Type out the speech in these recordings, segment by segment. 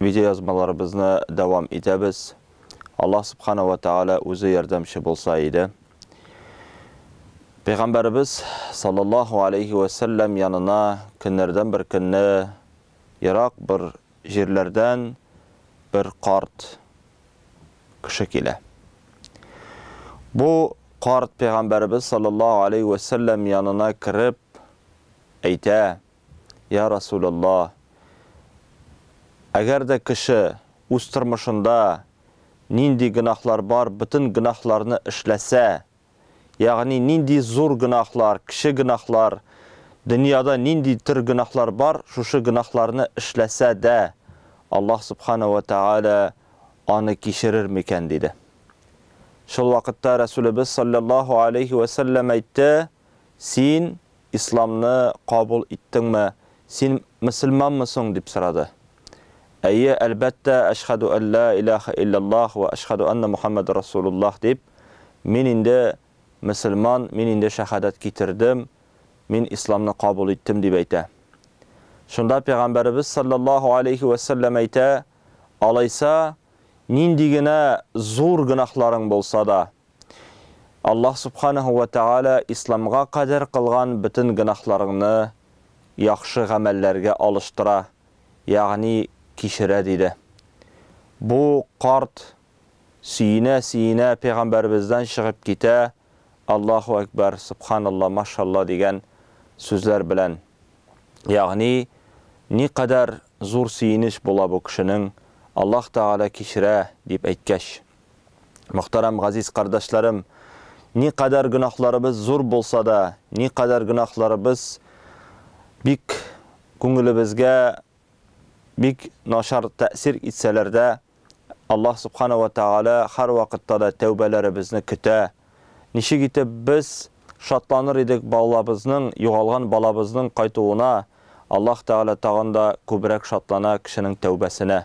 Видеоязмаларыбызны дәвам итәбез. Аллаһ Субхана вә Тәгалә үзе ярдәмче булса иде. Пәйгамбәребез саллаллаһу алейхи вә сәлләм янына көннәрдән бер көнне ерак бер җирләрдән бер карт кеше килә. Бу карт пәйгамбәребез саллаллаһу алейхи вә сәлләм янына кереп әйтә, Йа Расуләллаһ! Әгәр дә кеше үз тормышында нинди гөнаһлар бар, бөтен гөнаһларны эшләсә, ягъни нинди зур гөнаһлар, кече гөнаһлар, дөньяда нинди төр гөнаһлар бар, шушы гөнаһларны эшләсә дә, Аллаһ Сүбхәнәһү вә Тәгалә аны кичерер микән? диде. Шул вакытта Рәсүлебез салләллаһу галәйһи вә сәлләм әйтте, Син Исламны кабул иттеңме? Син мөселманмы соң? дип сорады. Әйе, әлбәттә, Әшһадү ан ләә иләһә илләллаһ вә әшһадү аннә Мухәммәдән Расулуллаһ дип, мин инде мөселман, мин инде шәһадәт китердем, мин Исламны кабул иттем, дип әйтә. Шунда Пәйгамбәребез салләллаһу алейһи вә сәлләм әйтә, Алайса, нинди генә зур гөнаһларың булса да, Аллаһ Субханаһу вә Тәгалә Исламга кадәр кылган бөтен гөнаһларыңны яхшы гамәлләргә алыштыра, ягъни кичерә, диде. Бу карт сөенә-сөенә пәйгамбәребездән чыгып китә, Аллаһу әкбәр, Сөбханалла, машалла дигән сүзләр белән. Ягъни, никадәр зур сөенеч була бу кешенең, Аллаһ Тәгалә кичерә, дип әйткәч. Мөхтәрәм газиз кардәшләрем, никадәр гөнаһларыбыз зур булса да, никадәр гөнаһларыбыз бик күңелебезгә бик начар тәэсир итсәләр дә, Аллаһ Субхана ва Тәгалә һәрвакытта да тәүбәләребезне көтә. Ничек итеп без шатланыр идек балабызның, югалган балабызның кайтуына, Аллаһ Тәгалә тагын да күбрәк шатлана кешенең тәүбәсенә.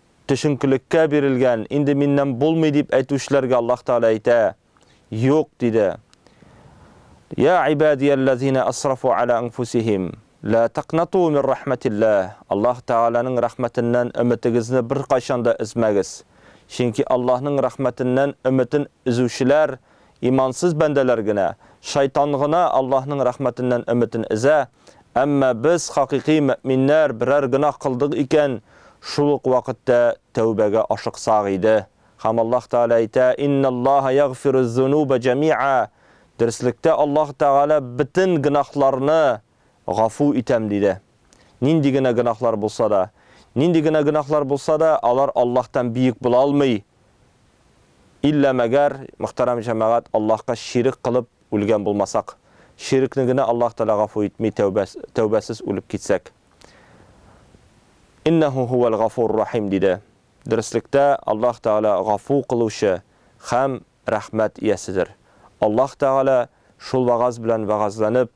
Төшенкелеккә бирелгән, инде миннән булмый дип әйтүчеләргә Аллаһ Тәгалә әйтә, Юк, диде. Йә ибадиялләзина асрафу ала анфусихим, лә такнату мин рәхмәтилләһ, Аллаһ Тәгаләнең рәхмәтеннән өметегезне беркайчан да өзмәгез, чөнки Аллаһның рәхмәтеннән өметен өзүчеләр, Имансыз бәндәләр генә, шайтан гына Аллаһның рәхмәтеннән өметен өзә, әмма без, хакыйкый мөэминнәр, берәр гөнаһ кылдык икән, шул ук вакытта тәүбәгә ашыксак иде. Һәм Аллаһ Тәгалә әйтә, Инналлаһа ягъфирүз-зунуба җәмиа, Дөреслектә Аллаһ Тәгалә бөтен гөнаһларны гафу итәм, диде. Нинди генә гөнаһлар булса да. Нинди генә гөнаһлар булса да, алар Аллаһтан биек була алмый. Иллә мәгәр, мөхтәрәм җәмәгать, Аллаһка ширек кылып үлгән булмасак. Ширекне генә Аллаһ Тәгалә гафу итми, тәүбәсез үлеп китсәк. Иннәһү һүәл гафур рахим, диде. Дөреслектә, Аллаһ Тәгалә гафу кылучы һәм рәхмәт ияседер. Аллаһ Тәгалә шул вәгазь белән вәгазьләнеп,